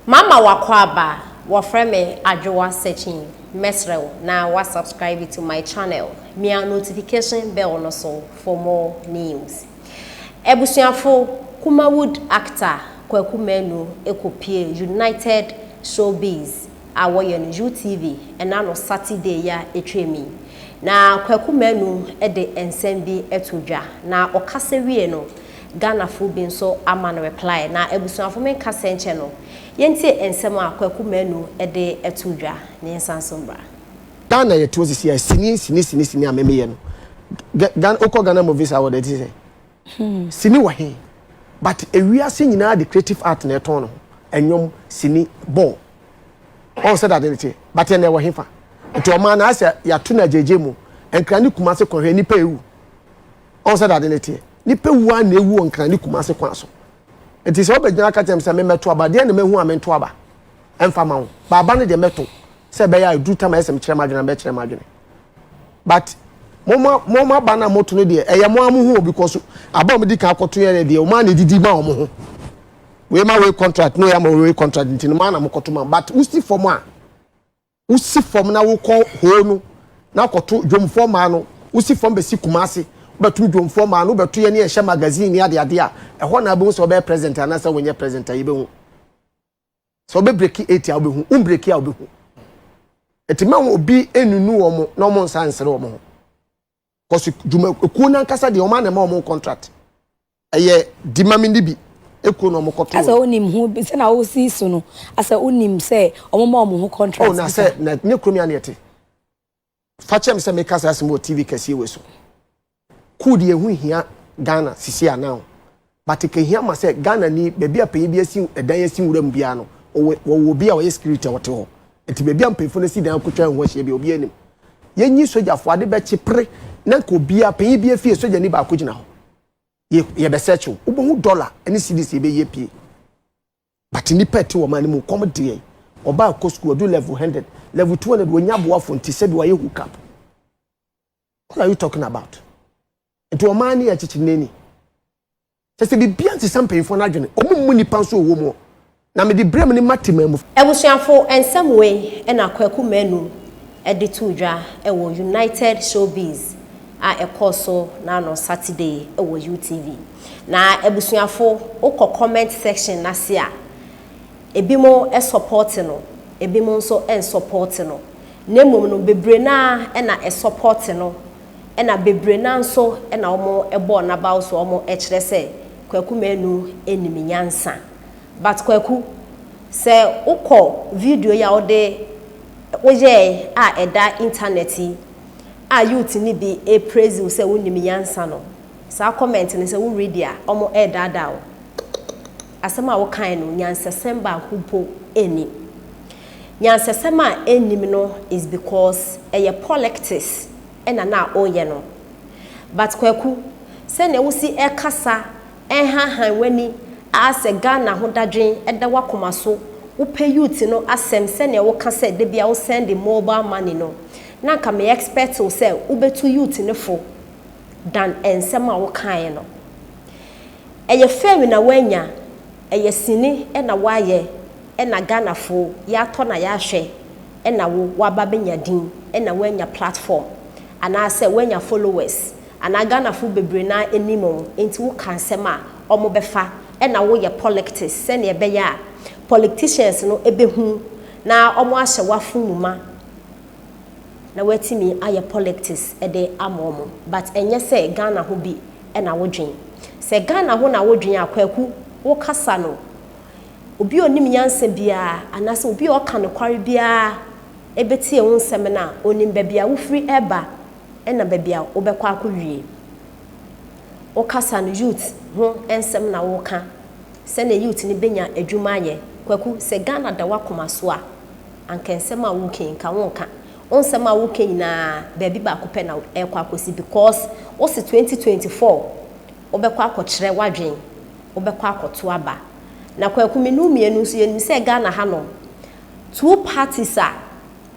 Mama w'akwaaba, wɔfrɛ me Adwoa Sekyin, mɛsrɛ wo na wa subscribe to my channel, mia notification bell no so for more news. Abusuafo, Kumawood actor Kwaku Manu kɔ pue United Showbiz a wɔyɛ no UTV ɛna no Saturday ya ɛtwa mi. Na Kwaku Manu de nsɛm bi to dwa, na ɔkasa wie no, Ghanafo bi nso ama no reply na abusuafo me nka sɛ nkyɛ no yɛntie nsɛm a Kwaku Manu de to dwa na yɛnsan nso mmra. Ghana yɛ toɔ sisi a sini sini sini sini a me me yɛ no Ghana wo kɔ Ghana movies award ɛte sɛ sini wɔ he but ewiase nyinaa de creative art na ɛtɔn ne ho ɛnwom sini ball wahu sɛdeɛ ade no teɛ but ɛnna ɛwɔ he fa nti ɔmaa no ayɛ sɛ yɛato no agyegye mu Nkran ne Kumase kɔ hwɛ nnipa ɛwu. ɔn sɛ dade ne teɛ nipa wu a na ewu wɔ nkran ne kumase kwan so nti sɛ ɔbɛgyina aka kyɛm sɛ memɛto aba deɛ na mahu a mento aba ɛmfa ma wo ba aba no deɛ mɛto sɛ ɛbɛyɛ a ɛduru tam a ɛsɛ mekyerɛ m'adwene a mɛkyerɛ m'adwene but moma moma aba no a moto no deɛ ɛyɛ mo a mo ho because aba a wɔde kan akɔto yɛ no deɛ wɔn a na edidi ma wɔn ho wei ma wei contract na wɔyɛ ma wei contract nti no maa na mokɔto ma but wosi fam a Wosi fam na wokɔ hoo no na akɔto dwomfoɔ mmaa no. Wosi fam bɛsi Kumasi, wobɛto dwomfoɔ mmaa no, wobɛto yɛne yɛhyɛ magazine ne adeade a, ɛhɔ na wobɛhu sɛ wobɛyɛ present anaasɛ wonyɛ present a, yɛbɛhu. Sɛ wobɛbreki eight a, wobɛhu, wombreki a, wobɛhu. Nti mɛma obi nnunu wɔn na wɔn nsa nsere wɔn ho. Kɔsi dwuma ekuo nankasa deɛ wɔn a na ɛma wɔn contract ɛyɛ di ma mi ni bi ekuo na wɔn kɔ to. Asɛ onim ho sɛ na osi so no asɛ onim sɛ wɔn ma wɔn ho contract. Oh na sɛ na ne kurom ya na yɛte. Fakyɛm sɛ meka saa asɛm wɔ TV kɛseɛ wei so. Cool deɛ ɛho hia Ghana sisi anaa o. But kehia ma sɛ Ghana ni baabi a panyin bi asi dan asi nwura mu biara no ɔwɔ wɔwɔ obi a ɔyɛ security a ɔte hɔ. Nti baabi a mpanyinfo no asi dan akotwa ɛho ahyia biara obiara nim. Yɛnyi sogyafo ade bɛkye pere na nka obiara panyin biara fie sogyani baako gyina hɔ. Yɛ yɛbɛ search wo. Wobɛhu dollar ne cedis a yɛbɛyi apue. But nnipa a ɛte wɔn man no mu kɔm de yɛn. Ɔbaa kɔ sukuu ɔdu level hundred, level two hundred wɔnnya aboafo nti sɛbi wayɛ hook up. What are you talking about? Nti ɔman ne yɛ kyekyere n'ani. Kyɛ sɛ biribiara nsesa mpanyinfoɔ no adwene. Wɔn mmu nipa nso wɔ mu. Na mede berɛ mu ne ma temaa mu. Abusuafo nsɛm wei na Kwaku Manu de too dwa wɔ United Showbiz a ɛkɔɔ so na no Saturday wɔ UTV. Na abusuafo wokɔ comment section no ase a, ebinom sɔpɔɔte no, ebinom nso nsɔpɔɔte no. Na mmom no bebree no ara na ɛsɔpɔte no na bebree no ara nso na wɔbɔɔ n'abaw so a wɔkyerɛ sɛ Kwaku Manu nim nyansa. But Kwaku, sɛ wokɔ video yi a wode woyɛe a ɛda internet yi a youth no bi repraise wo sɛ wonim nyansa no, saa comment no sɛ wo read a, wɔredaadaa wo. Asɛm a wokae no nyansasɛm baako mpo nnim. Nyansasɛm a ennim no is because ɛyɛ polictics na na woyɛ no. But Kwaku, sɛnea wosi ɛkasa ɛnhanhan w'ani aa sɛ Ghana ho dadwen da w'akoma so, wopɛ youth no asɛm sɛnea woka sɛ da biara wo send mobile money no, na nka me expect wo sɛ wobɛtu youth no fo than ɛnsɛm a wokaeɛ no. Ɛyɛ fɛw na wanya, ɛyɛ sini na wayɛ na Ghanafo yɛatɔ na yɛahwɛ na wo waba abɛnya din na wanya platform anaasɛ wanya followers anaa Ghanafo bebree no ara nim wo nti wo ka nsɛm a ɔmo bɛfa na wo yɛ polictics sɛnea ɛbɛyɛ a policticians no bɛhu na ɔmo ahyɛ w'afon mu ma na watumi ayɛ polictics de ama ɔmo but ɛnyɛ sɛ Ghana ho bi na wodwen. Sɛ Ghana ho na wodwen a, Kwaku, wo kasa no, obi a onim nyansa biara anaasɛ obi a ɔka nokware biara betie wo nsɛm no a, onim baabi a wofiri reba na baabi a wobɛkɔ akɔwie. Wo kasa no, youth ho nsɛm na woka, sɛnea youth no bɛnya adwuma ayɛ. Kwaku, sɛ Ghana da w'akoma so a, anka nsɛm a woka yi, nka wonka. Wo nsɛm a woka nyinaa baabi baako pɛ na ɛrekɔ akɔsi because wo se twenty twenty four wobɛkɔ akɔkyerɛ w'adwen, wobɛkɔ akɔto aba. Na Kwaku menu mmienu nso yɛnim sɛ Ghana hanom two parties a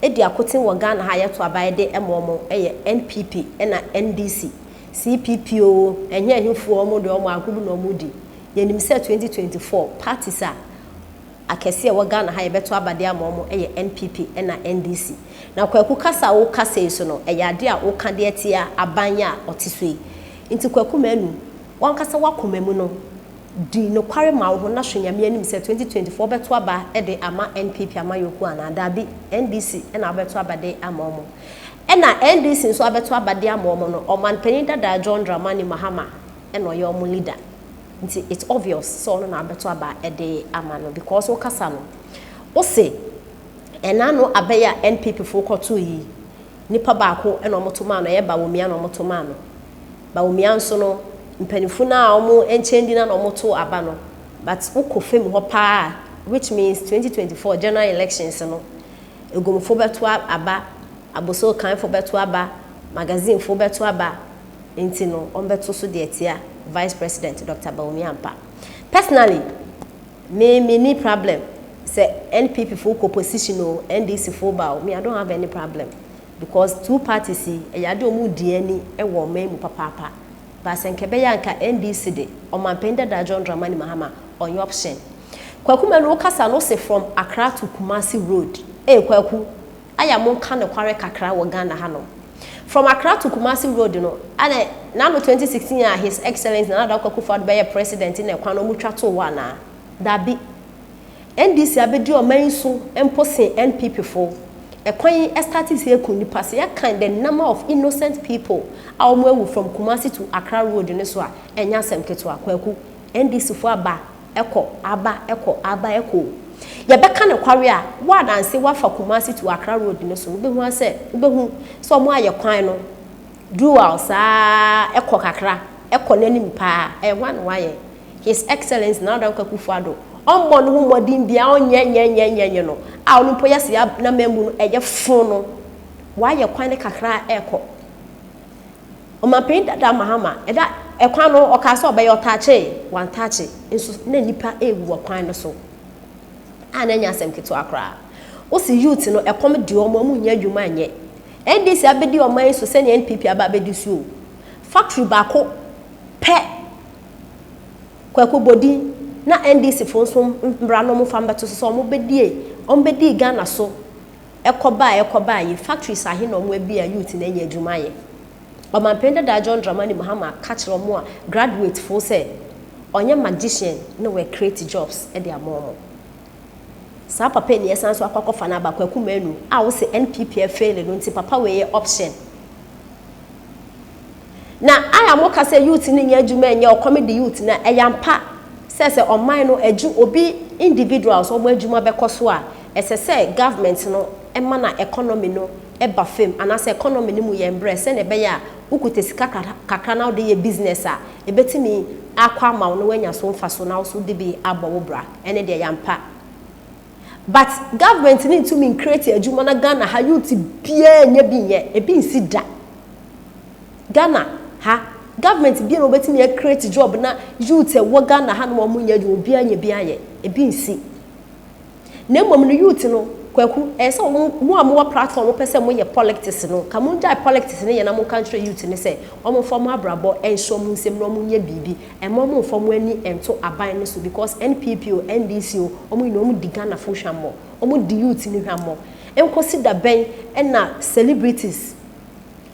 ɛdi akoten wɔ Ghana ha a yɛto aba yɛde ma wɔn yɛ NPP ɛna NDC. CPP oo, ɛnyɛ ɛhefoɔ wɔn deɛ wɔn agorɔ na wɔredi. Yɛnim sɛ twenty twenty four parties a akɛseɛ ɛwɔ Ghana ha yɛbɛto aba de ama wɔn yɛ NPP ɛna NDC. Na Kwaku kasa a wo kasa yi so no ɛyɛ adeɛ a wo ka deɛ tia aban yi a ɔte so yi. Nti Kwaku Manu wo ankasa wo akoma mu no di nokware ma wo ho na hwɛ Nyame anim sɛ 2024 wo bɛto aba de ama NPP amayɔkuo anaa daabi NDC ɛna wo bɛto aba de ama wɔn. Ɛna NDC nso abɛto aba de ama wɔn no ɔmanpanin dada John Dramani Mahama ɛna ɔyɛ wɔn leader. Nti it's obvious sɛ ɔno na abɛto aba de ama no because wo kasa no wo se ɛna no aba yi a NPP foɔ kɔtoo yi nipa baako na wɔn to maa no ɛyɛ Bawumia na wɔn to maa no Bawumia nso no mpanyinfo no a wɔn nkyɛn di na na wɔn to aba no but wo kɔ fam hɔ paa a which means 2024 general elections no Egumfo bɛto aba Abossey Okanfo bɛto aba Magazine fo bɛto aba Nti no ɔmbɛto so de atsia Vice President Doctor Bawumia mpa. Personally me minni problem sɛ NPP fo kɔ position o, NDC fo ba o, me I don't have any problem because two parties yi ɛyɛ ade a ɔmo di ani wɔ ɔman mu papaapa. But sɛ nka ɛbɛyɛ a nka NDC de Ɔmanpanyin Dadaa John Dramani Mahama ɔnnyɛ option. Kwaku Manu wo kasa no se from Accra to Kumasi road ee Kwaku Aya mo nka nokware kakra wɔ Ghana ha nom. From Accra to Kumasi road no ɛna n'ano 2016 a his excellent Nana Dankwa Akufo Addo bɛyɛ president na ɛkwan no ɔmo twa too hɔ anaa? Dabi. NDC abedi ɔman yi so mpo sen NPP foɔ. Ɛkwan yi ɛstate sɛ ɛku nnipa sɛ yɛ kan the number of innocent people a ɔmo awu from Kumasi to Accra road no so a ɛnyɛ asɛm ketewa. Kwaku. NDC foɔ aba. ɛkɔ, aba, ɛkɔ, aba, ɛkɔ o. Yɛbɛka nokware a, wo a nanse woafa Kumasi to Accra road no so, wobɛhu ara sɛ, wobɛhu sɛ wɔayɛ kwan no dual saa ara, ɛkɔ kakra, ɛkɔ n'anim pa ara. Ɛyɛ hwan na wayɛ? His Excellency Nana Dankwa Akufo-Addo. Ɔmmɔ ne ho mmɔden biara, ɔnyɛ nyɛ nyɛ nyɛ nyɛ no a ɔno mpo yɛse yɛa, n'amammu no ɛyɛ fo no, wayɛ kwan no kakra a ɛkɔ. Ɔmanpanyin Dada Mahama da kwan no ho, ɔkaa sɛ ɔbɛyɛ, ɔtakyee, wantakye nso na nnipa rewu wɔ kwan no so a na ɛnyɛ asɛm ketewa koraa. Wose youth no ɛkɔm de wɔn a wɔnnya adwuma nyɛ. NDC abɛdi ɔman yi so sɛnea NPP aba abɛdi so o. Factory baako pɛ Kwaku bɔ din na NDC foɔ nso mmra na wɔmfa mmɛto so sɛ wɔbɛdie, wɔbɛdii Ghana so. Ɛkɔba a ɛkɔba a yi factories ahe na ɔmo abue a youth no anya adwuma ayɛ? Ɔmanpanin dadaa John Dramani Mahama ka kyerɛ ɔmo a graduate foɔ sɛ ɔnyɛ magician na wɔ create jobs de ama ɔmo. Saa papa yi na yɛsan nso akɔ akɔfa no aba Kwaku Manu a wose NPP a fail no nti papa wei yɛ option. Na I a mo ka sɛ youth no nyɛ adwuma nyɛ ɔkɔm de youth no a ɛyɛ ampa sɛ sɛ ɔman no adwu obi individuals wɔn adwuma bɛkɔ so a ɛsɛ sɛ government no ma na economy no ba fam anaasɛ economy no mu yɛ mbrɛ sɛnea ɛbɛyɛ a wo kuta sika kakra na wode yɛ business a ɛbɛtumi akɔ ama wo na wanya so mfaso na wo so wode bi abɔ wo bra ɛne deɛ ɛyɛ ampa. But government no ntumi ncreate adwuma na Ghana ha youth biaa nnya bi nyɛ. Ebi nsi da. Ghana ha government biaa na wɔbɛtumi a create job na youth a ɛwɔ Ghana ha nom a wɔnnyɛ adwuma obiaa nya bi ayɛ. Ebi nsi. Na mmom no youth no, Kwaku, ɛyɛ sɛ wɔn, mo a mowɔ platform a mopɛ sɛ moyɛ polictics no, nka mongyae polictics no yɛ na monka nkyerɛ youth no sɛ wɔmfa wɔn abrabɔ nhyɛ wɔn nsam na wɔnyɛ biribi. Ɛmma ɔmo nfa ɔmo ani nto aban no so because NPP o NDC o ɔmo nyinaa ɔmo di Ghana fo hwammɔ, ɔmo di youth no hwammɔ. Nkosi da bɛn na celebrities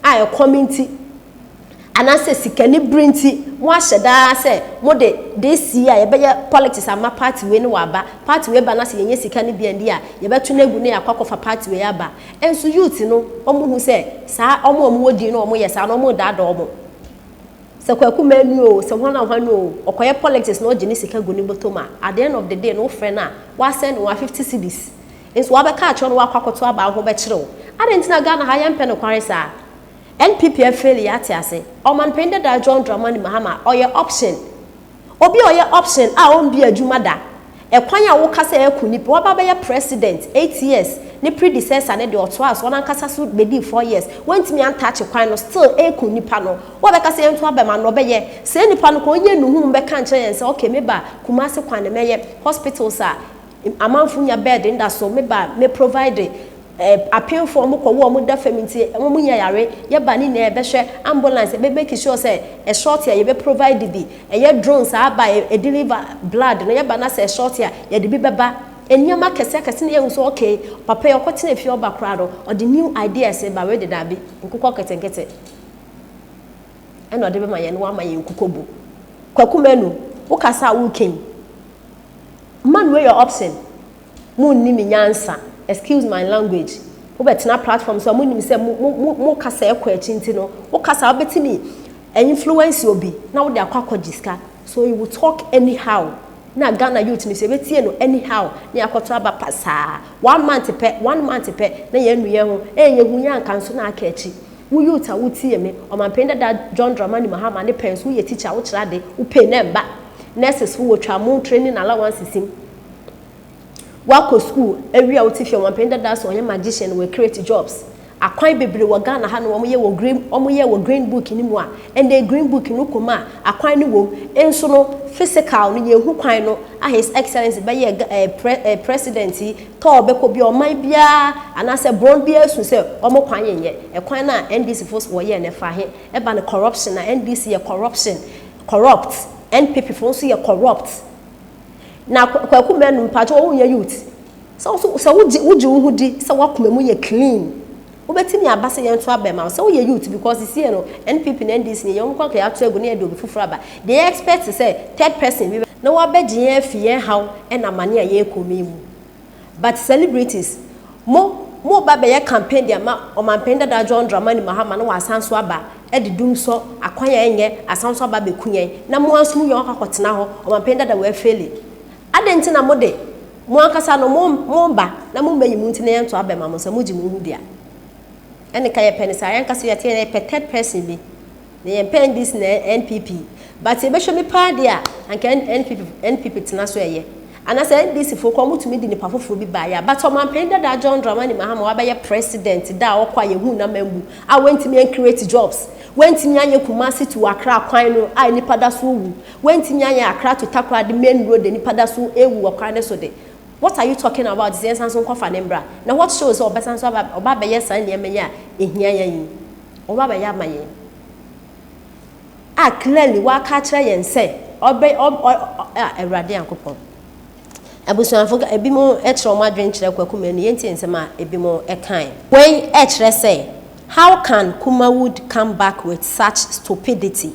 a ɛkɔm nti anaasɛ sikani bere nti mo ahyɛ da ara sɛ mo de this year yɛ bɛyɛ politics ama party wei no waba, party wei ba na sɛ yɛ nya sika no bi ɛnde a yɛ bɛto no agu na yɛ akɔ akɔ fa party wei aba. Nso youth no ɔmo hu sɛ saa ɔmo a ɔmo wɔ din no ɔmo yɛ saa no ɔmo redaadaa ɔmo. Sɛ Kwaku Manu oo, sɛ hwan na hwan oo, ɔkɔyɛ politics na ɔgye ne sika gu ne bɔtɔ mu a, at the end of the day no wofrɛ no a, wasend wo a fifty cedis nso wabɛka akyerɛ wo na wakɔ akɔto aba wo ho bɛkyere wo. Adɛn nti na Ghana ha yɛmpɛ nokware saa? NPP afail yɛate ase. Ɔmanpanin dada John Dramani Mahama ɔyɛ option. Obi a ɔyɛ option a ɔndi adwuma da, ɛkwan a woka sɛ ɛko nip, waba abɛyɛ president eight years, ne predecessor no deɛ ɔtoaa so, ɔno ankasa so bɛdii four years, wantumi antakye kwan no, still ɛko nipa no, wobɛka sɛ yɛnto aba ma no, ɔbɛyɛ, saa nipa no ka ɔnyɛ nuhuu mbɛka nkyerɛ yɛn sɛ ok me ba Kumasi kwane mɛyɛ, hospitals a Amanfo nya bed nda so me ba me provide eh Apenfo ɔmo kɔ wo ɔmo da fam nti ɔmo mo nya yare yɛ ba ne nyinaa yɛ bɛ hwɛ Ambulance yɛ bɛ make sure sɛ ɛ short a yɛ bɛ provide bi ɛ yɛ drone saa ba ɛ deliver blood no yɛ ba na sɛ ɛ short a yɛ de bi bɛ ba ɛ nneɛma akɛse akɛse na yɛ hu sɛ ok papa yi ɔkɔ tena fie ɔba koraa no ɔde new ideas ba wei dedaa bi nkokɔ nketenkete ɛna ɔde bɛ ma yɛn na wama yɛn nkokɔ bu Kwaku Manu wo kasa a wo reka yi. Man wei yɛ option monni me nyansa excuse my language wobɛtena platform so a monim sɛ mo kasa ɛkɔ akyi nti no wo kasa wobɛtumi influence obi na wode akɔ akɔgye sika so you will talk anyhow na Ghana youth no so ɛbɛtie no anyhow na yɛakɔto aba pasaa one month pɛ one month pɛ na yɛanu yɛn ho ɛyɛ yɛhu yɛ anka nso na aka akyi Wo youth a wo tie me, Ɔmanpanin dada John Dramani Mahama ne Pence wo yɛ teacher a wo kyerɛ ade, wo pay no ɛmba. Nurses fo wɔ twa mo training allowances mu. Wa kɔ school awie a wo te fie, Ɔmanpanin dada so ɔyɛ magician wɔ create jobs. Akwan bebree wɔ Ghana ha nom a wɔn yɛ wɔ green wɔn yɛ wɔ green book no mu a ɛnɛ green book no kɔ mu a akwan no wɔ mu nso no physical no yɛ hu kwan no a his excellence bɛyɛ eh, pre, eh, president yi tɔ bɛkɔ biara, ɔman biara anaasɛ borɔn biara su sɛ wɔn kwan nyɛ, ɛkwan no a NDC fo wɔ yɛ no ɛfa he? Ɛba no corruption a, NDC yɛ corruption, corrupt, NPP fo nso yɛ corrupt. Na Kwaku Manu mpakyɛw wo nyɛ youth, sɛ wo nso sɛ wo gye wo gye wo ho di sɛ w'akoma mu yɛ clean, Wobɛtumi aba sɛ yɛnto aba mma wo sɛ woyɛ youth because sesie no NPP ne NDC ne yɛn wɔn kɔ ato agu na yɛde obi foforɔ aba deɛ yɛ expect sɛ third person bi na wabɛgye yɛn afi yɛn haw ne amane a yɛrekɔ mu yi mu but celebrities mo mo reba abɛyɛ campaign de ama ɔmanpanin dada John Dramani Mahama na wasan nso aba de dum sɔ akwan a ɛnyɛ asan nso aba abɛku yɛn na mo ara nso mo wia wakɔ akɔtena hɔ ɔmanpanin dada wafeli Adɛn nti na mo de, mo ankasa no, mo, moreba na mommayi mo nti na yɛnto aba mma mo sɛ mogye mo ho di a? Ɛne ka yɛpɛ no saa. Yɛn ankasa yɛte yɛn, yɛpɛ third person bi. Na yɛmpɛ NDC na NPP. But yɛbɛhwɛ mi paa deɛ a, anka NPP, NPP tena so ɛyɛ. Anaasɛ NDC foɔ koraa wɔtumi de nipa foforɔ bi ba yɛ a. But ɔmanpanin dadaa John Dramani Mahama wabɛyɛ president da a ɔkɔ a yɛhuu n'amambu a wantumi ancreate jobs, wantumi anyɛ Kumasi to Accra kwan no a nnipa da so wu, Wantumi anyɛ akra to takora de main road nipa da so rewu wɔ kwan no so de, what are you talking about sɛ yɛnsan so nkɔfa no mbra? Na what shows sɛ ɔbɛsan so aba ɔba abɛyɛ saa nneɛma yi a ɛhia yɛn yi? Ɔba abɛyɛ ama yɛn a clearly waka akyerɛ yɛn sɛ ɔbɛ ɔ ɔ a Awurade Nyankopɔn. Abusuafo ebinom kyerɛ wɔn adwene kyerɛ Kwaku Manu, yɛntie nsɛm a ebinom kae. Wei kyerɛ sɛ how can Kumawood come back with such stupidity?